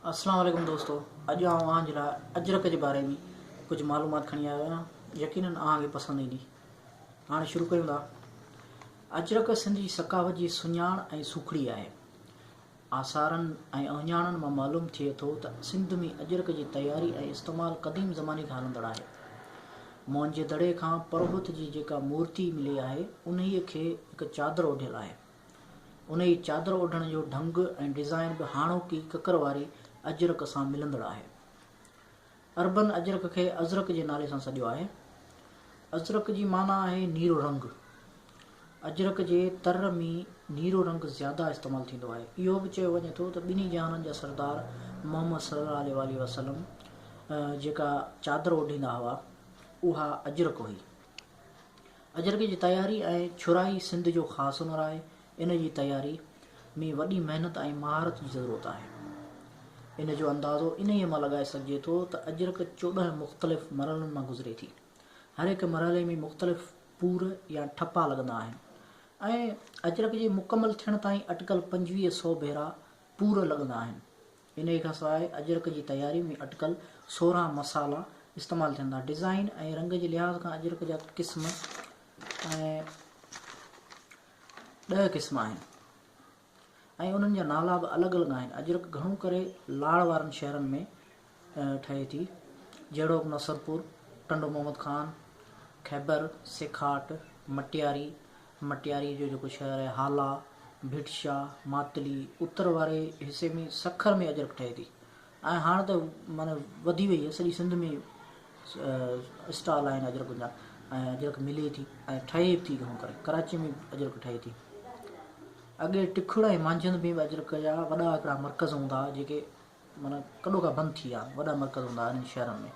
السلام عليڪم دوستو اڄ آئون اوهان جي لاء اجرڪ جي باري ۾ ڪجهه معلومات کڻي آيو آهيان يقينن اوهان کي پسند ايندي هاڻي شروع ڪيون ٿا اجرڪ سنڌ جي ثقافت جي سڃاڻ ۽ سوکڙي آهي آثارن ۽ اهڃاڻن مان معلوم ٿئي ٿو ته سنڌ ۾ اجرڪ جي تياري ۽ استعمال قديم زماني کان هلندڙ آهي موهن جي دڙي کان پروهت جي جيڪا مورتي ملي آهي انهيء کي هڪ چادر اوڍيل آهي انهيء چادر اوڍڻ جو ڍنگ ۽ ڊزائين به هاڻوڪي ڪڪر واري اجرڪ سان ملندڙ آهي. عربن اجرڪ کي ازرق جي نالي سان سڏيو آهي. ازرق جي معنيٰ آهي نيرو رنگ. اجرڪ جي تر ۾ نيرو رنگ زياده استعمال ٿيندو آهي. اهو به چيو وڃي ٿو ته ٻنهي جهانن جا سردار محمد صلي الله عليه واٰله وسلم جيڪا چادر اوڍيندا هئا، اها اجرڪ هئي. اجرڪ جي تياري ۽ ڇرائي سنڌ جو خاص هنر آهي. ان جي تياري ۾ وڏي محنت ۽ مهارت جي ضرورت آهي. ان جو اندازو انهيء مان لڳائي سگهجي ٿو ته اجرڪ چوڏهن مختلف مرحلن مان گذري ٿي. هر هڪ مرحلي ۾ مختلف پور يا ٺپا لڳندا آهن ۽ اجرڪ جي مڪمل ٿيڻ تائين اٽڪل پنجويهه سئو ڀيرا پور لڳندا آهن. انهيء کان سواء اجرڪ جي تياري ۾ اٽڪل سورهن مصالحا استعمال ٿين ٿا. ڊزائين ۽ رنگ جي لحاظ کان اجرڪ جا قسم ڏهه قسم آهن ۽ انهن جا نالا به الڳ الڳ آهن. اجرڪ گهڻو ڪري لاڙ وارن شهرن ۾ ٺهي ٿي، جهڙوڪ نصرپور، ٽنڊو محمد خان، خيبر، سيکاٽ، مٽياري، مٽياري جو جيڪو شهر آهي هالا، ڀٽشا، ماتلي، اتر واري حصي ۾ سکر ۾ اجرڪ ٺهي ٿي ۽ هاڻ ته معنيٰ وڌي وئي آهي سڄي سنڌ ۾ اسٽال آهن اجرڪن جا ۽ اجرڪ ملي ٿي ۽ ٺهي به ٿي گهڻو ڪري ڪراچي ۾ به اجرڪ ٺهي ٿي اڳي ٽکڙ ۽ مانجهند ۾ به اجرڪ جا وڏا هڪڙا مرڪز هوندا هئا جيڪي معنيٰ ڪڏو ڪا بند ٿي ويا وڏا مرڪز هوندا انهن شهرن ۾.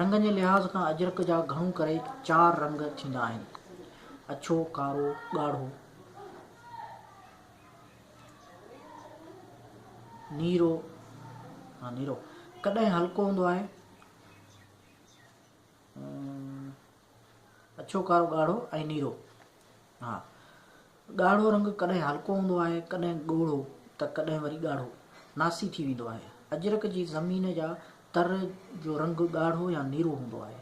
رنگن جي لحاظ کان اجرڪ جا گهڻو ڪري چار رنگ ٿيندا آهن، اڇو، ڪارو، ڳاڙهو، نيرو، نيرو ڪڏهن هلڪو هوندو آهي، اڇو، ڪارو، ڳاڙهو ۽ نيرو. ها، ڳاڙهو رنگ ڪڏهن هلڪو هوندو آهي، ڪڏهن ڳوڙهو ته ڪڏهن وري ڳاڙهو، ناسي ٿي ويندو آهي. اجرڪ جي زمين جا تر جو رنگ ڳاڙهو يا نيرو هوندو آهي.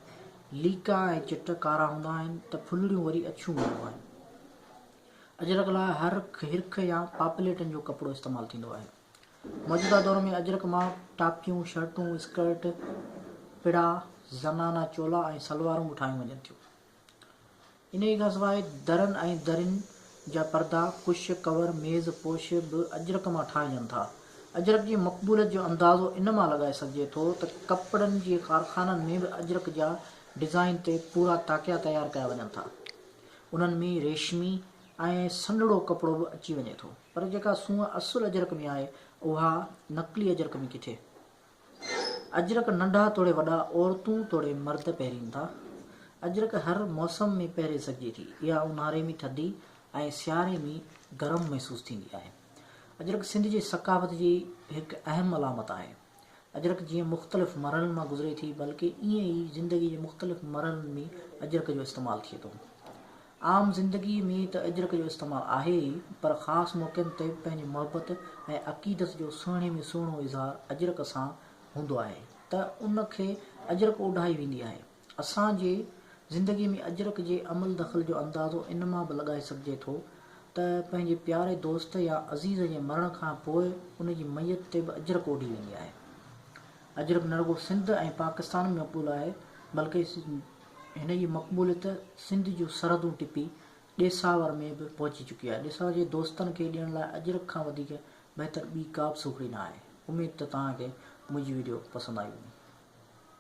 ليڪا ۽ چٽ ڪارا هوندا آهن ته ڦلڙيون وري اڇيون هونديون آهن. اجرڪ لاء هرک، هرک يا پاپليٽن جو ڪپڙو استعمال ٿيندو آهي. موجوده دور ۾ اجرڪ مان ٽاپيون، شرٽون، اسڪرٽ، پڙا، زنانا چولا ۽ سلوارون به ٺاهيون وڃن ٿيون. انهيء کان سواء درن ۽ درين جا پردا، ڪش، ڪور، ميز پوش به اجرڪ مان ٺاهجن ٿا. اجرڪ جي مقبوليت جو اندازو ان مان لڳائي سگهجي ٿو ته ڪپڙن جي ڪارخانن ۾ به اجرڪ جا ڊزائين تي پورا تاڪيا تيار ڪيا وڃن ٿا. انهن ۾ ريشمي ۽ سنهڙو ڪپڙو به اچي وڃي ٿو. پر جيڪا سونهن اصل اجرڪ ۾ آهي اها نقلي اجرڪ ۾ ڪٿي؟ اجرڪ ننڍا توڙي وڏا عورتون توڙي مرد پهرين ٿا. اجرڪ هر موسم ۾ پهري سگهجي ٿي. اها اونهاري ۾ ٿڌي ۽ سياري ۾ گرم محسوس ٿيندي آهي. اجرڪ سنڌ جي ثقافت جي هڪ اهم علامت آهي. اجرڪ جيئن مختلف مرحلن مان گذري ٿي بلڪ ايئن ئي زندگي جي مختلف مرحلن ۾ اجرڪ جو استعمال ٿئي ٿو. عام زندگي ۾ ته اجرڪ جو استعمال آهي ئي پر خاص موقعن تي پنهنجي محبت ۽ عقيدت جو سهڻي ۾ سهڻو اظهار اجرڪ سان هوندو آهي ته ان کي اجرڪ اوڍائي ويندي آهي. اسان جي زندگي ۾ اجرڪ جي عمل دخل جو اندازو ان مان به لڳائي سگهجي ٿو ته پنهنجي پياري دوست يا عزيز جي مرڻ کان پوء ان جي ميت تي به اجرڪ اوڍي ويندي آهي. اجرڪ نه رڳو سنڌ ۽ پاڪستان ۾ مقبول آهي بلڪه هن جي مقبوليت سنڌ جون سرحدون ٽپي ڏيساور ۾ به پهچي چڪي آهي. ڏسڻ جي دوستن کي ڏيڻ لاء اجرڪ کان وڌيڪ بهتر ٻي ڪا به سوکڙي نه آهي. اميد ته توهان کي منهنجي وڊيو پسند آئي هوندي.